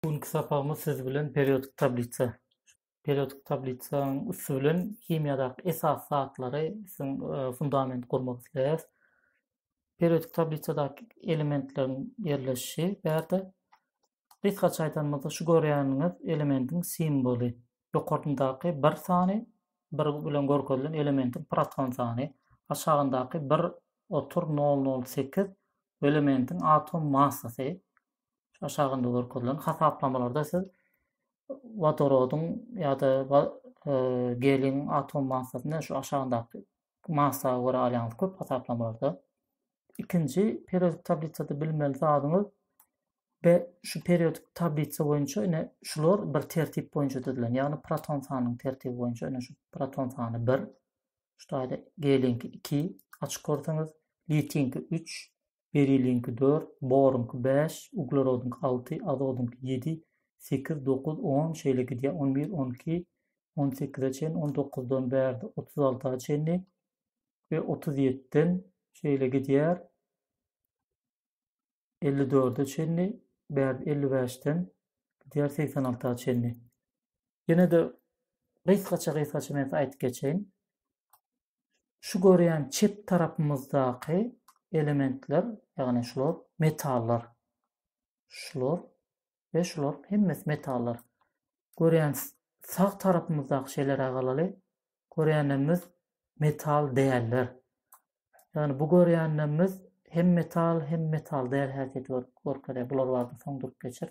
Bu günki sapagymyz siz bilen periodik tablisa, periodik tablisaň üsti bilen himiýadaky esas zatlary siziň e, fundament gurmak isleýäris. Periodik tablisadaky elementleriň ýerleşişi bärde gysgaça aýdanymyzda şu görýäniňiz elementiň simwoly. Ýokaryndaky bir sany bir bilen görkezilen elementiň proton sany, aşagyndaky bir otur 008 elementiň atom massasy, aşagynda görkezilen hasaplamalarda siz wodorodyň ýa-da e, gelin atom massasyny şu aşagyndaky massa görä alýaňyz köp hasaplamalarda. Ikinji periodik tablisada bilmeli zadyňyz we şu periodik tablisa boýunça ine şular bir tertip boýunça düzülen. Ýagny proton sanynyň tertibi boýunça ine şu proton sany 1, şu taýda gelinki 2 açyk görseňiz, litiýinki 3, beriliňki dört, boruňky bäş, uglerodyňky alty, azodyňky ýedi, sekiz, dokuz, on, şeýle gidýär, on bir, on iki, on sekize çenli, on dokuzdan bärde otuz alta çenli we otuz ýetden şeýle gidýär, elli dörde çenli, bärde elli bäşden gidýär, segsen alta çenli. Ýene-de gysgaça-gysgaça men aýdyp geçeýin. Şu görýän çep tarapymyzdaky elementler, ýagny şular metallar. Şular we şular hemmesi metallar. Görýän sag tarapymyzdaky şeýleräk alaly. Görýänlerimiz metal däller. Ýagny bu görýänlerimiz hem metal, hem metal däl häsiýeti görkezýär. Bular barada soň durup geçer.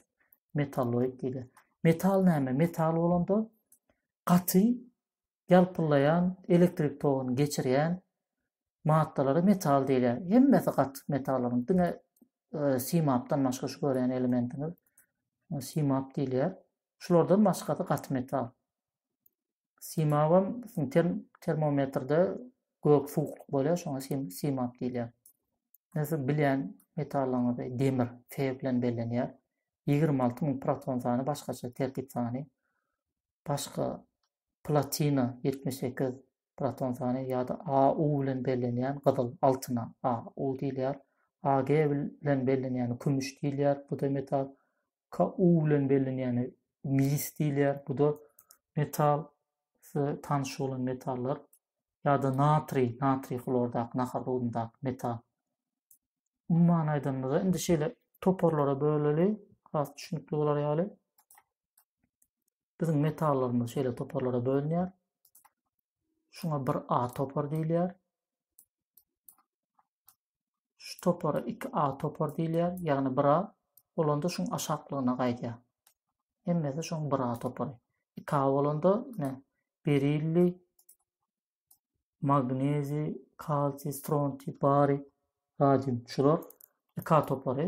Metalloid diýilýär. Metal näme? Metal bolanda gaty ýalpyllaýan elektrik toguny geçirýän maddalara metal diýilýär. Hemmesi gatyk metallaryň, diňe simapdan başga şu görýän elementiňiz simap diýilýär. Şulardan başgasy gaty metal. Simabam term termometrde gök suwuklyk bolýar, şoňa simap diýilýär. Näse bilýän metallaryňyzy demir Fe bilen bellenýär. 26 müň proton sany başgaça tertip sany. Başga platina, ýetmiş sekiz proton sany, ýa-da AU bilen bellenýän gyzyl, altyna AU diýilýär. AG bilen bellenýäne kümüş diýilýär, bu-da metal. KU bilen bellenýäne mis diýilýär, bu-da metal. Size tanyş bolan metallar ýa-da natriý, natriý hlordaky nahar duzundaky metal. Umuman aýdanymyzda, indi şeýle toparlara böleli, has düşünikli bolar ýaly. Biziň metallarymyz şeýle toparlara bölünýär. Şuňa bir A topar diýilýär. Şu topara 2A topar diýilýär, ýagny 1A bolanda şuň aşaklygyna gaýdýar. Hemmesi şuň 1A topary. 2A bolanda ne? Berilli, magnezi, kalsiy, strontiý, bariý, radium şular 2A topary.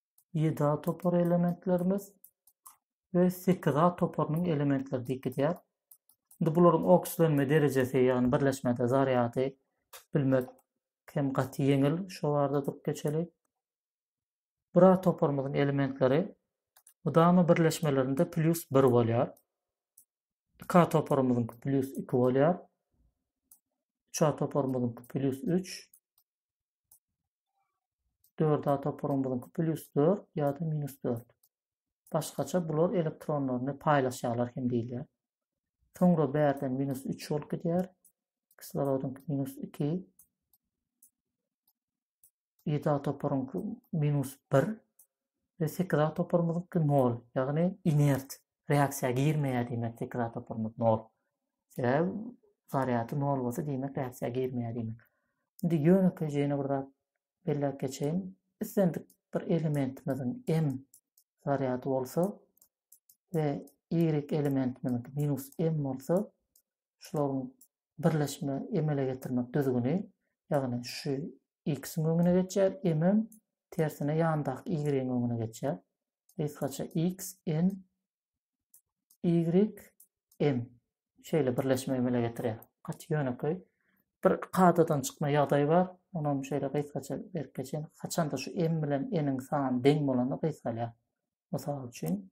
ýedi A topary elementlerimiz we sekiz A toparynyň elementleri diýip gidýär. Indi bularyň okslenme derejesi, ýagny birleşmede zarýady bilmek hem gaty ýeňil. Şu barada durup geçeli. Bir A toparymyzyň elementleri mydama birleşmelerinde plýus 1 bolýar. 2 A toparymyzyň plýus 2 bolýar. 3 A toparymyzyň plýus 3. Dört A toparyň buzuňky plýus dört ýa-da minus dört. Başgaça bular elektronlaryny paýlaşýarlar hem diýilýär. Soňra bärden minus üç bolup gidýär. Kislorodyňky minus iki. Ýedi A toparyňky minus bir. Ve sekiz A toparymyzyňky nol. Ýagny inert. reaksiýa girmeýär diýmek tekrar toparymyz nol. Sebäbi zarýady nol bolsa diýmek reaksiýa girmeýär diýmek. Indi ýönekeý ýene bir zat belläp geçeýin. Islendik bir elementimiziň m zarýady bolsa we y elementimiziň minus m bolsa şularyň birleşme emele getirmek düzgüni, ýagny şu x-iň öňüne geçýär, m-em tersine ýandaky y-iň öňüne geçýär. Gysgaça x, n, y, m şeýle birleşme emele getirýär. Gaty ýönekeý. Bir kadadan çykma ýagdaýy bar. Onam şeýle gysgaça berip geçen. Haçanda şu m bilen n-iň sany deň bolanda gysgalýar. Mysal üçin,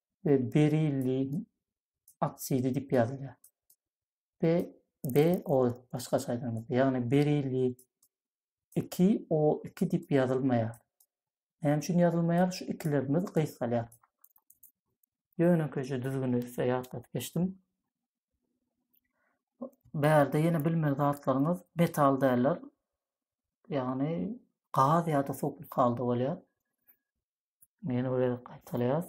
we berilli oksidi diýip ýazylýar. Be BO başgaça aýdanymyzda, ýagny berilli 2O2 diýip ýazylmaýar. Näme üçin ýazylmaýar? Şu ikilerimiz gysgalýar. Ýönekeýje düzgüni size ýatladyp geçdim. Bärde ýene bilmeli zatlaryňyz metal däller. Ýagny gaz ýa-da suwuklyk halda bolýar. Ýene bir gezek gaýtalaýas.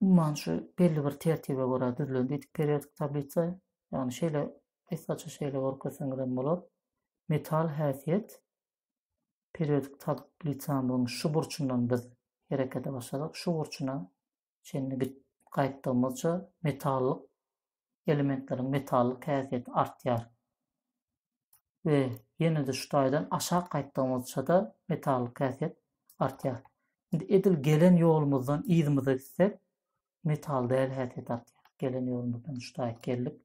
Umuman şu belli bir tertibe görä düzülen diýdik periodik tablisa. Ýagny şeýle gysgaça şeýle görkezseňiz hem bolar. Metal häsiýet periodik tablitsamyzyň şu burçundan biz herekete başladyk. Şu burçuna çenli gidip gaýtdygymyzça metallyk elementleriň metallyk häsiýeti artýar we ýene-de şu taýdan aşak gaýtdygymyzça-da metallyk häsiýet artýar. Indi edil gelen ýolumyzdan yzymyza gitsek, metal däl häsiýet artýar. Gelen ýolumyzdan şu taýy geldik.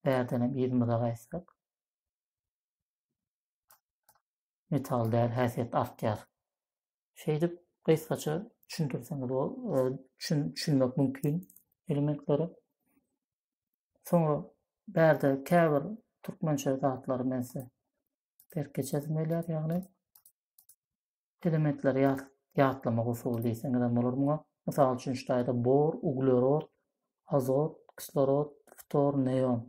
Bärden hem yzymyza gaýtsak, metal däl häsiýet artýar. Şeýdip gysgaça düşündirseňiz bol, düşün, düşünmek mümkin elementlere. Soňra bärde käbir türkmençe zatlary men size berk geçesim gelýär, ýagny elementleri ýat, ýatlamak usuly diýseňiz hem bolar muňa. Mysal üçin şu taýda bor, uglerod, azot, kislorod, ftor, neon.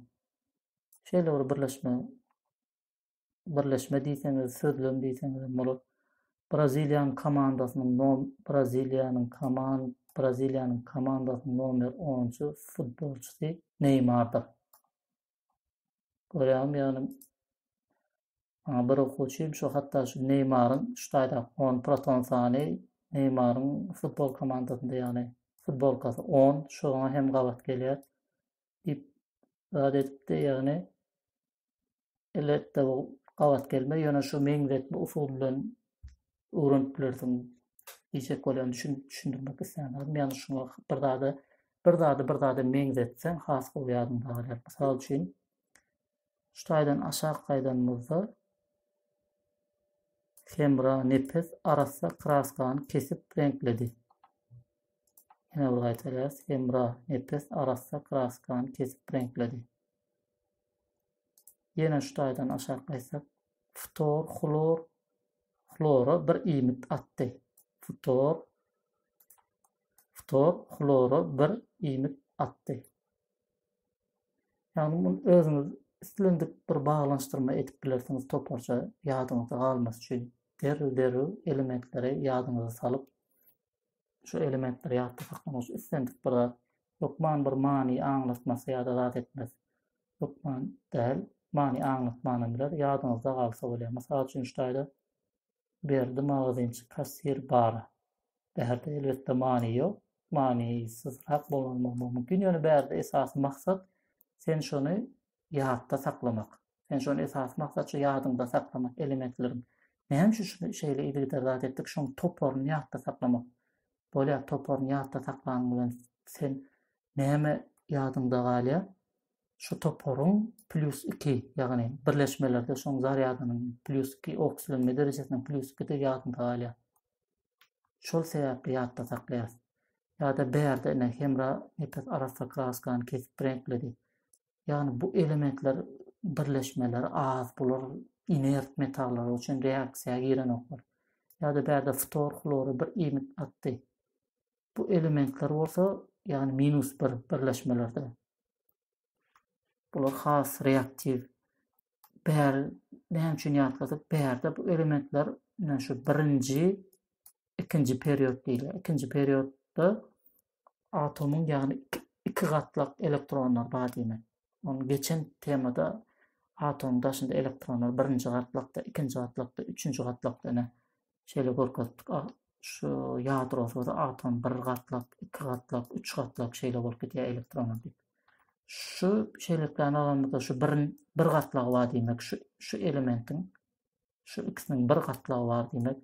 Şeýle bir birleşme birleşme diýseňiz, sözlem diýseňiz hem bolar. Braziliýanyň komandasynyň nom Braziliýanyň koman Braziliýanyň komandasynyň nomer 10-njy futbolçysy Neymardyr. Görýäňmi, ýagny maňa bir okuwçym şu hatda şu Neymaryň şu taýda 10 proton sany Neymaryň futbol komandasynda ýagny futbolkasy 10 şoňa hem gabat gelýär. diýip zat edipdi, ýagny elbetde bu gabat gelmez, ýöne şu meňzetme usuly bilen öwrenip bilersiň diýjek bolýan düşün, düşündirmek isleýän ýagny şuňa bir zada bir zady bir zada meňzetseň has gowy ýadynda galýar. Mysal üçin Şu taýdan aşak gaýdanymyzda Hemra nepes arassa kraskany kesip reňkledi. Ýene bir gaýtalýarys. Hemra nepes arassa kraskany kesip reňkledi. Ýene şu taýdan aşak gaýtsak, ftor, hlor, hlora bir iýmit atdy. Ftor, ftor, hlora bir iýmit atdy. Ýagny muny özüňiz islendik bir baglanyşdyrma edip bilersiňiz toparça ýadyňyzda galmasy üçin. Derrew derrew elementleri ýadyňyza salyp şu elementleri ýatda saklamak üçin islendik bir zat. Hökman bir many aňlatmasy ýa-da zat etmez. Hökman däl, many aňlatman hem biler, ýadyňyzda galsa bolýar. Mysal üçin şu taýda Berdi magazynçy kassir bara. Bärde elbetde many ýok, manysyzrak bolanmam mumkin, ýöne bärde esasy maksat sen şony ýatda saklamak. Sen şony esasy maksat şu ýadyňda saklamak elementleriň. Näme üçin şuny şeýle yzygider zat etdik, şoň toparyny ýatda saklamak. Bolýar, toparyny ýatda saklanyň bilen sen näme ýadyňda galýar? şu toparyň plýus iki, ýagny birleşmelerde şoň zarýadynyň plýus iki oksilenme derejesiniň plýus ikidigi ýadynda galýar. Şol sebäpli ýatda saklaýarys. Ýa-da bärde ine hemra nepes arassa kraskany kesip reňkledi. Ýagny bu elementler birleşmeleri az, bular inert metallar, o üçin reaksiýa girenoklar. Ýa-da bärde ftor hlora bir iýmit atdy. Bu elementler bolsa, ýagny minus bir birleşmelerde bular has reaktiw. Bär näme üçin ýatladyk? Bärde bu elementler ine şu birinji, ikinji period diýilýär. Ikinji periodda atomyň ýagny iki, iki gatlak elektronlar bar diýmek. Onu geçen temada atomyň daşynda elektronlar birinji gatlakda, ikinji gatlakda, üçünji gatlakda ine Şeýle görkezdik, şu ýadrosyz atom bir gatlak, iki gatlak, üç gatlak şeýle bolup gidýär elektrony diýip. Şu şeýleliklerini alanymyzda şu bir bir gatlagy bar diýmek, şu şu elementiň şu ikisiniň bir gatlagy bar diýmek.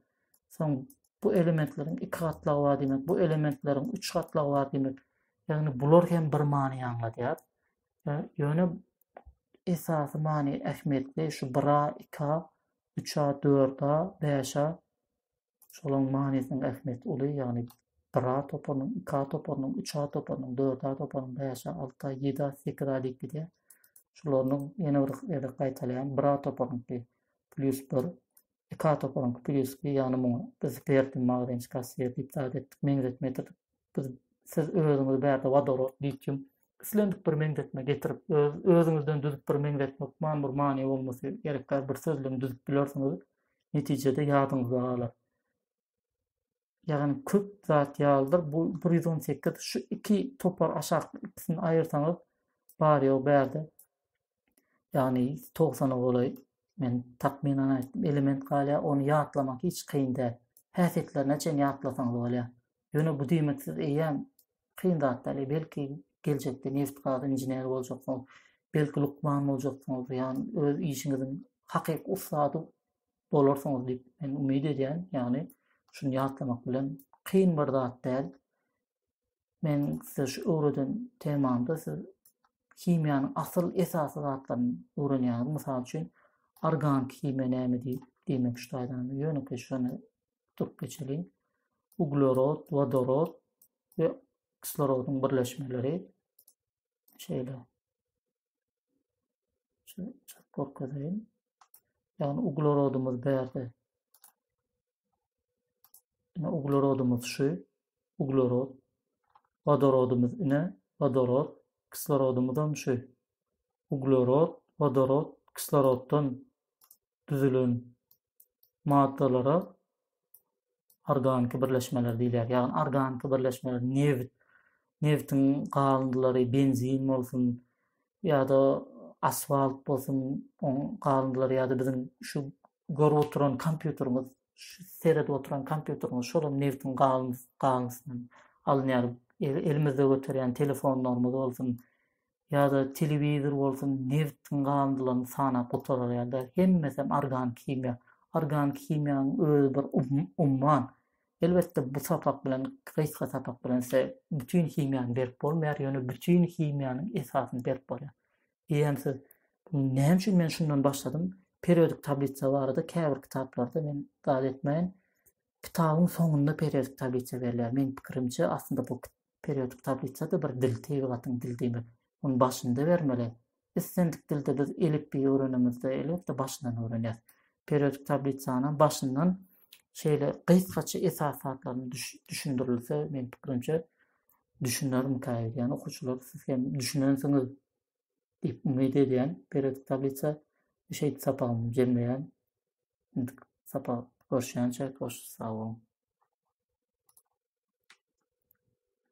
Soň bu elementleriň iki gatlagy bar diýmek, bu elementleriň üç gatlagy bar diýmek. Ýagny bular hem bir many aňladýar. Ýöne esasy many ähmiýetli şu 1A, 2A Üç-ä, dört-ä, bäş-ä, şolaryň manysynyň ähmiýeti uly, ýagny bir-ä toparynyň, iki-ä toparynyň, üç-ä toparynyň, dört-ä toparynyň, bäş-ä, alty-ä, ýedi-ä, sekiz-ä diýip gidýär. Şolarynyň ýene bir gezek gaýtalaýan, bir-ä toparyňky plýus bir, iki-ä toparyňky plýus iki, ýagny muňa biz Berdi, Magdin, Şkasser diýip zat etdik, meňzetme getirdik. Biz siz özüňizi bärde wodorod, litium islendik bir meňzetme getirip öz özüňizden düzüp bir meňzetme hukman bir many bolmasy gerek däl bir sözlem düzüp bilersiňiz. Netijede ýadyňyzda galar. Ýagny köp zat ýalydyr. Bu 118 şu iki topar aşak ikisini aýyrsaňyz bar ýok bärde. Ýagny 90-a golaý men takmynan aýtdym element galýar. Ony ýatlamak hiç kyn däl. Häsiýetlerine çen ýatlasaňyz bolýar. Ýöne bu diýmek siz eýýäm kyn zat däl, belki geljekde neft-gaz inženeri boljaksyňyz, belki lukman boljaksyňyz, ýagny öz işiňiziň hakyky ussady bolarsyňyz diýip men umyt edýän, ýagny şuny ýatlamak bilen kyn bir zat däl. Men size şu öwreden temamda siz himiýanyň asyl esasy zatlaryny öwrenýäňiz, mysal üçin organiki himiýa näme diýip diýmek şu taýdan, ýönekeý şuny tutup geçeliň. Uglerod, wodorod we kislorodyň birleşmeleri şeýle. Şu çat görkezeýin. Ýagny uglerodymyz bärde. Ine uglerodymyz şu. Uglerod. Wodorodymyz ine wodorod. Kislorodymyz hem şu. Uglerod, wodorod, kisloroddan düzülen maddalara organiki birleşmeler diýilýär. Ýagny organiki birleşmeler nebit, nebitiň galyndylary, benzin bolsun ýa-da asfalt bolsun, oň galyndylary ýa-da biziň şu görüp oturan kompýuterimiz, şu seredip oturan kompýuterimiz şolam nebitiň galyndy, galyndysyny alynýar. Elimizde göterýän telefonlarymyz bolsun, ýa-da telewizor bolsun, nebtiň galyndylaryny sanap gutarar ýa-da, hemmesem organik himiýa. Organik himiýanyň özi bir umman. Elbetde, bu sapak bilen, gysga sapak bilen size bütin himiýany berip bolmaýar, ýöne bütin himiýanyň esasyny berip bolýar. Eýýäm siz Näme üçin men şundan başladym? Periodik tablisa barada käbir kitaplarda men zat etmäýin. Kitabyň soňunda periodik tablisa berilýär. Meň pikirimçe, aslynda bu Periodik tablisa-da bir dil, tebigatyň dili diýmek. Ony başynda bermeli. Islendik dilde biz elipbiýi öwrenemizde, elbetde, başyndan öwrenýäs. Periodik tablisanam başyndan şeýle gysgaça esas zatlaryny düşündirilse, meniň pikirimçe, düşünermikä öýdýän okuwçylar, siz hem düşünensiňiz diýip umyt edýän. Periodik tablisa şeýdip sapagymy jemleýän. Indik sapak görüşýänçä, hoş, sag boluň.